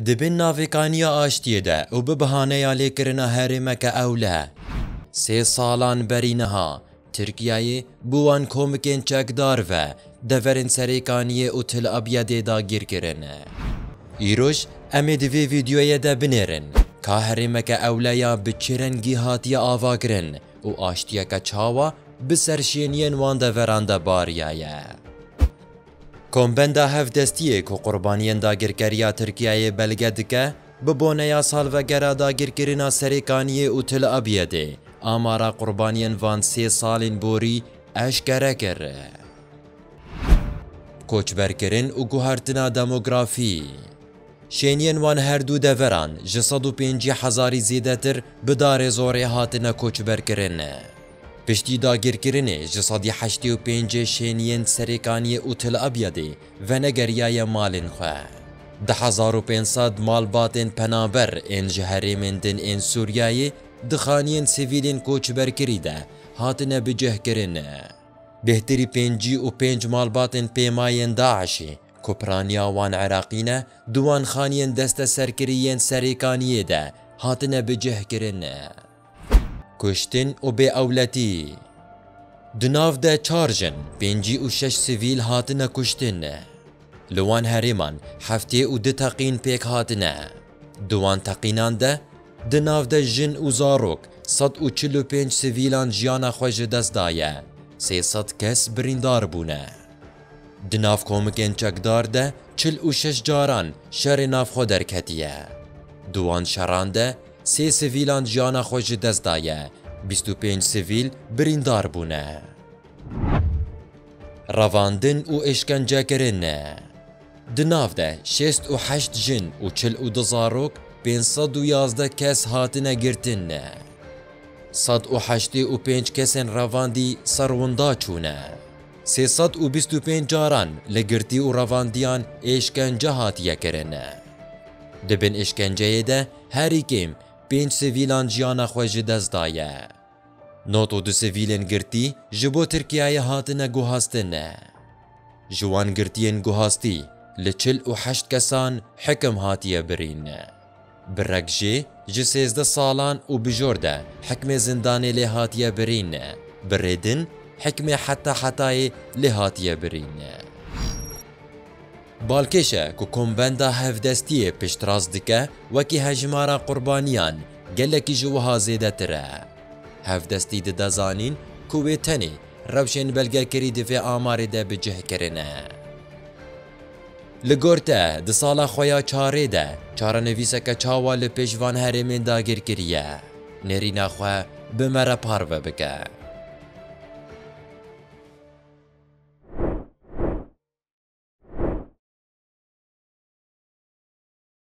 Di bin navêkaniya aştiyê de û bi bihaneya lêkirina herêmeke ewle. Sê salan berî niha, Tirkiyeyê bi wan komikên çekdar ve deverên Serêkaniyê û Til Abyedê dagîr kirin. Îroj em ê di vê vîdeoyê de binêrin ka herêmeke ewle ya bi çi rengî hatiye avakirin û aştiyeke çawa bi serşêniyên wan deveran de bariyaye. Kombenda Hevdestiyê ku qurbaniyên dagirkeriya Tirkiyeyê belge dike, bi boneya salvegera dagirkirina Serêkaniyê û Til Abyedê amara qurbaniyên van sê salên borî eşkere kir. Koçberkirin û guhertina demografî. Şêniyên wan her du deveran ji sed û pêncî hezarî zêdetir bi darê zorê hatine koçberkirin. Piştî dagirkirinê ji sedî heştê û pêncê şêniyên Serêkaniyê û Til Abyadê venegeriyaye malên xwe. Di hezar û pênc sed malbatên penaber ên ji herêmên din ên Sûriyayê di xaniyên sivîlên koçberkirî de hatine bicihkirin. Bêhtirî pêncî û pênc malbatên pêmayên DAIŞ'ê, Ku piraniya wan Iraqî ne, di wan xaniyên desteserkirî yên Serêkaniyê de hatine bicihkirin ne kuştin û bêewletî. Di nav de çar jin, pêncî û şeş sivîl hatine kuştin. Li wan herêman heftê û du teqîn pêk hatine. Di wan teqînan de di nav de jin û zarok sed û çil û pênc sivîlan jiyana xwe ji dest daye, sê sed kes birîndar bûne. Di nav komikên çekdar de çil û şeş caran şerê navxwe derketiye. Di wan şeran de sê sivîlan jiyana xwe ji dest daye, bîst û pênc sivîl birîndar bûne. Revandin û êşkencekirin e. Di nav de şêst û heşt jin û çil û du zarok, pênc sed û yazdeh kes hatine girtin. Sed û heştê û pênc kesên revandî ser winda çûne. Sê sed û bîst û pênc caran li girtî û revandiyan êşkence hatiye kirin. Di bin êşkenceyê de herî kêm pênc sivîlan jiyana xwe ji dest daye. Nod û du sivîlên girtî ji bo Tirkiyeyê hatine guhastin. Ji wan girtiyên guhastî li çil û heşt kesan hikim hatiye birîn. Bi reg jê ji sêzdeh salan û bijor de hikmê zindanê lê hatiye birîn. Bi rê din hikmê heta hetayê lê hatiye birîn. Balkêş e ku Komvenda Hevdestiyê piştrast dike wekî hejmara qurbaniyan gelekî ji wiha zêdetir e. Hevdestî dide zanîn ku wê tenê rewşên belgekirî di vê amarê de bi cih kirine. Li gor te, di sala xwe ya çarê de, çarenivîseke çawa li pêş van herêmên dagîr kiriye? Nêrîna xwe bi me re parve bike.